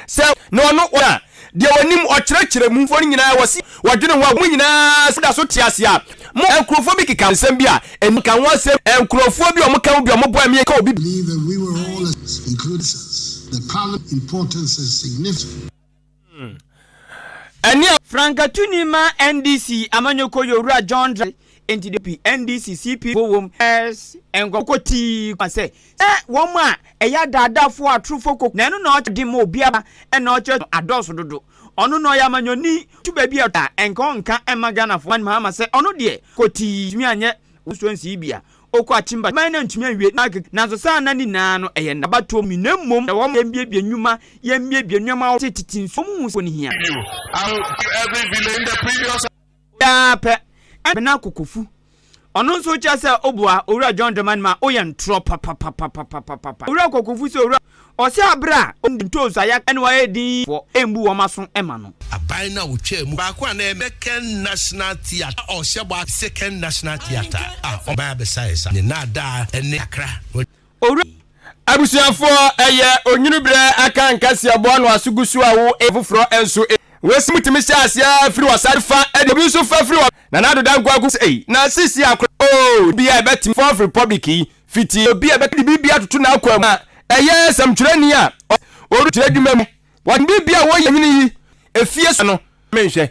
sɛ na ɔno wɔ a deɛ wɔnim ɔkyerɛkyerɛ mu foɔ no nyinaa wɔ se wɔdwene ho a wɔn nyinaa sɛ da so te ase a mo nkurɔfoɔ bi keka nsɛm bi a ɛni nka ho asɛm nkurɔfoɔ bi a wɔka ho bi a wɔbɔ a ɛmeyɛ ka obi bi ɛne a. Frankatuni ma NDC amanyɔkuo yɛ Owura John Drare Enti DP, NDC, CPP fo wom, ɛs, nkɔfo kɔ tii koma sɛ sɛ wɔn a ɛyɛ adaadaafo atorofo koko na ɛno na ɔkyɛ den ma obiara na ɔkyerɛ no adɔɔso dodo. Ɔno na ɔyɛ amanyɔni tu baabi a ɔtɔ a nka ɔnka mma Ghanafo Ɔman Mahama sɛ ɔno deɛ kɔ tii ntumi anyɛ wɔn nsuo nsii bi a ɔkɔ akyimba kyiman na ntumi anwie n'akeka nanso saa nna no nyinaa no ɛyɛ nna abatoɔ mu na mmom ɛwɔ ma yɛmbiebie nnwuma yɛmbiebie nneɛma a wɔte tete nsuo mu hu sɛ wɔn hia. Ɔyɛ ara pɛ, ɛnna Abena Kokofu, ɔno nso kyerɛ sɛ ɔboa Owura John Dramani ma ɔyɛ ntorɔ papapapapapapa. Owura Kokofu sɛ Owura, ɔsɛ aberɛ a ɔnni dɛm ntoosi a yɛaka no ayɛ din yi foɔ ɛmbu wɔn aso mma no. Aban no a wɔtwaa mu baako a na ɛyɛ Second National Theatre a ɔhyɛ bɔ a Second National Theatre a ɔman abɛsaesae ne nnaadaa ne kakra. Owura yi, abusuafoɔ, ɛyɛ onwunu berɛ aka nka si aboa no aso gu so a wo e afoforɔ nso e. W'ase mu tumi hyɛ aseɛ ara firi w'asaase fa e de obi nso fa firi wɔ na n'ado da nkoa gu so e na sisi a kora oo nni obi a ɛbɛtumi fourth republic yi fiti obi a ɛbɛka de biribi atoto n'akoa mu a ɛyɛ sɛmtwerɛni a ɔwɔ ɔwura kyerɛ adwuma mu wɔde biribi a wɔyɛ nwene yi efie so no menhwɛ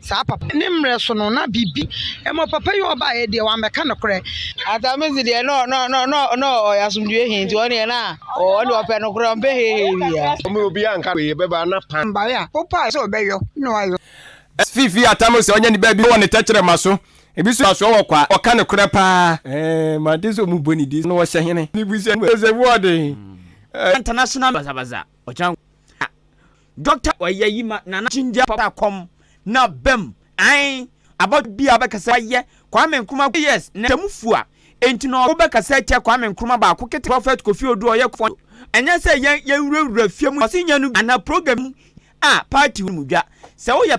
saa papa. Ne mmerɛ so no, na biribi. Mmɔ papa yi ɔbaeɛ deɛ, wammɛka nokorɛ. Atamin so deɛ, na na na na na ɔyɛ asomdwoeɛ he, nti ɔno deɛ na ɔne ɔpɛ nokorɛ, ɔmpɛ heehee biaa. Ɔmo obiaa nka wei bɛba na pa. Mbaeɛ a wopaeɛ sɛ ɔbɛyɔ, na wayɔ. Ɛsɛ fifi Atamin sɛ ɔnya niba bi wɔ ne tɛkyerɛma so. Ebi so asoɔ wɔ kwa, ɔka nokorɛ paa. Ɛɛ, mante sɛ ɔmo bɔ ne din sɛ na ɔhyɛ hene. Ne busua mu sɛ wɔɔden. Ɛɛ. International basabasa, ɔkyɛn. Doctor Oyayi ma Nana Ginger papa kɔm na bɛm ae abɔdwe bia bɛka sɛ wayɛ Kwame Nkrumah kɔ years na tɛmu fua enti na ɔko bɛkasa atia Kwame Nkrumah baako kete Prophet Kofi Odu ɔyɛ kofɔn do ɛnyɛ sɛ yɛn yɛnwura wura fie mu ɔse nyɛ no bi anaa program bi a party no mu dwa sɛ woyɛ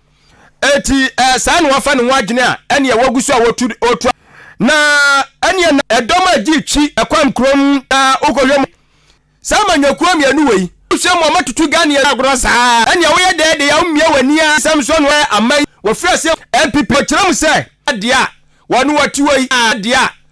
Enti ɛɛ saa na wafa ne ho adwene a ɛneɛ wagu so a wɔtu ɔtua. Na ɛneɛ na ɛdɔm a ɛgye twi ɛkwam kurom na wokɔhwɛ mu saa ma nyakuo mmienu wei. Wohwɛ mu a moatutu Ghanaian agorɔ saa ɛneɛ woyɛ dɛɛ deɛ a womia w'ani a nsɛm so no ɛɛ ama yi wɔfiri aseɛ npp. Wɔkyerɛ mu sɛ ɛɛ deɛ a wɔne wɔte wei ɛɛ deɛ a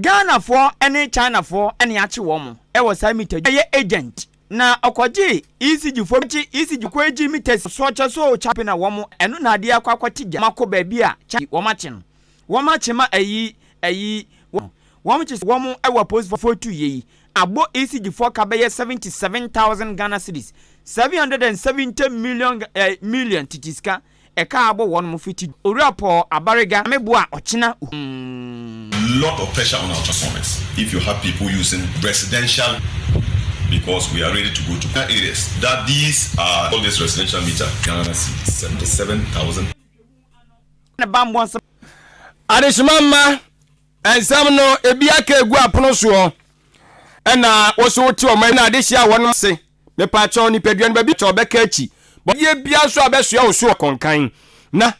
Ghanafoɔ ne Chinafoɔ na yɛakye wɔn wɔ saa mita dwuma yɛ agent na ɔkɔgyee ECG foɔ kye ECG kɔ egye mita si so kyɛ so chapi na wɔn ɛno na adeɛ akɔ akɔte gya wɔn akɔ baabi a chapi wɔn akye no wɔn akye ma ayi ayi wɔn wɔn kye sɛ wɔn wɔ apolisifoɔ tu yɛ yi abɔ ECG foɔ ka bɛyɛ seventy seven thousand Ghana cedis seven hundred and seventy million eh, million tete sika ɛka abɔ wɔnom fiti Owura Paul Abariga Ameboa Ɔkyena Uhmm. Lot of pressure on Awcha Summit if you have people using residential because we are ready to go to Ghana areas that these are all this residential meter Ghana cedis seventy seven thousand. Ne bammɔ nsɛm. Adehyema mma nsɛm no ebi aka egu apono soɔ ɛna wo so wote wɔn ɛna adehyia wɔn ase. Mepakyɛw nipadua no baabi a ɔbɛka akyi bɔyɛ biara nso a ɛbɛsoa wo so akɔ nkan. Na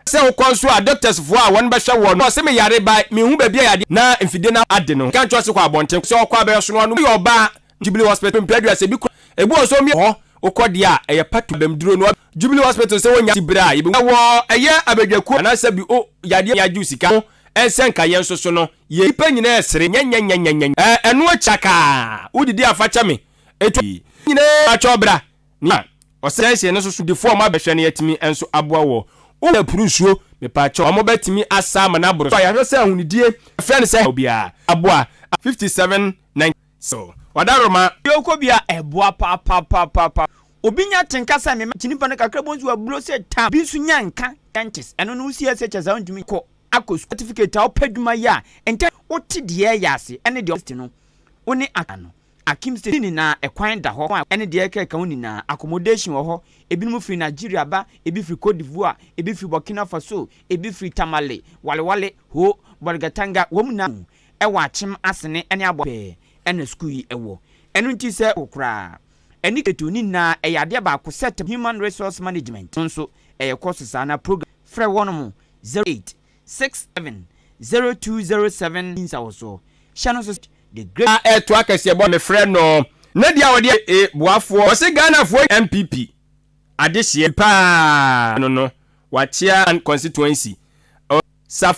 sɛ wokɔ nso a doctors foɔ a wɔn bɛhwɛ woɔ no ɔse me yare bae me nhu baabi a yadeɛ na mfidie no ade no ka nkyerɛ ɔse kɔ abɔnten sɛ ɔkɔ a bɛyɛ ɔsono ano woyɛ ɔbaa jubilee hospital mpɛ aduru asɛ bi kura ebi wɔ nso ɔmia hɔ wokɔ deɛ a ɛyɛ patu abam duro no jubilee hospital sɛ wonya ti bere a yɛbɛ ɛwɔ ɛyɛ abadwakuo anaasɛ bi o yadeɛ yɛ agyew sika ho ɛnsɛ nka yɛn nso so no yɛ nipa nyinaa ɛsere nyɛnyɛnyɛnyɛnyɛ ɛɛ ɛno akyi akaa wodidi afakyɛ me Etu yi nyinaa atwa bra. Nea ɔsɛesɛe ne so sodifo a ɔma bɛhwɛ no atumi nso aboa wɔ wo ho apuru nsuo. Mepakyɛw, wɔbɛtumi asa ama no aboro so a yɛahwɛ sɛ ahonidie a ɛfrɛ no sɛ haw biara aboa a. 5719. So wada roma? Baabi a wokɔ biara ɛboa papaapapapa. Obi nya atenka sɛ mema kyini ba no kakra bom so aburo sɛ tam. Obi nso nya nka, dentist, ɛno no wo CSHS a wontumi nkɔ akɔ sukuu. Certificate a wopɛ adwuma yɛ a ntɛm wote deɛ ɛyɛ ase ne deɛ ɔwɔ ase no wo ne aka no. Akim se ne nyinaa ɛkwan da hɔ a ɛne deɛ ɛkeka ho nyinaa, accommodation wɔ hɔ, ebinom firi Nigeria ba, ebi firi Cote d'Ivoire, ebi firi Burkina Faso, ebi firi Tamale, Walewale, Ho, Bolgatanga, wɔn nyinaa mu wɔ Akyem, Asene ne Abɔa pɛɛ na sukuu yi wɔ. Ɛno nti sɛ wo koraa ani gye to ne nyinaa a, ɛyɛ adeɛ baako sɛ tɛm, Human Resource Management, no nso ɛyɛ kɔɔse saa na program, frɛ wɔnom 08. 0207 nsawosoɔ hyɛ no so the great. Na ɛtoa kɛseɛ bɔ. Mefrɛ no na di a ɔde yɛ e boafoɔ. Ɔse Ghanafoɔ NPP adehyeɛ paa no no wakyea constituency. Ɔ, safo.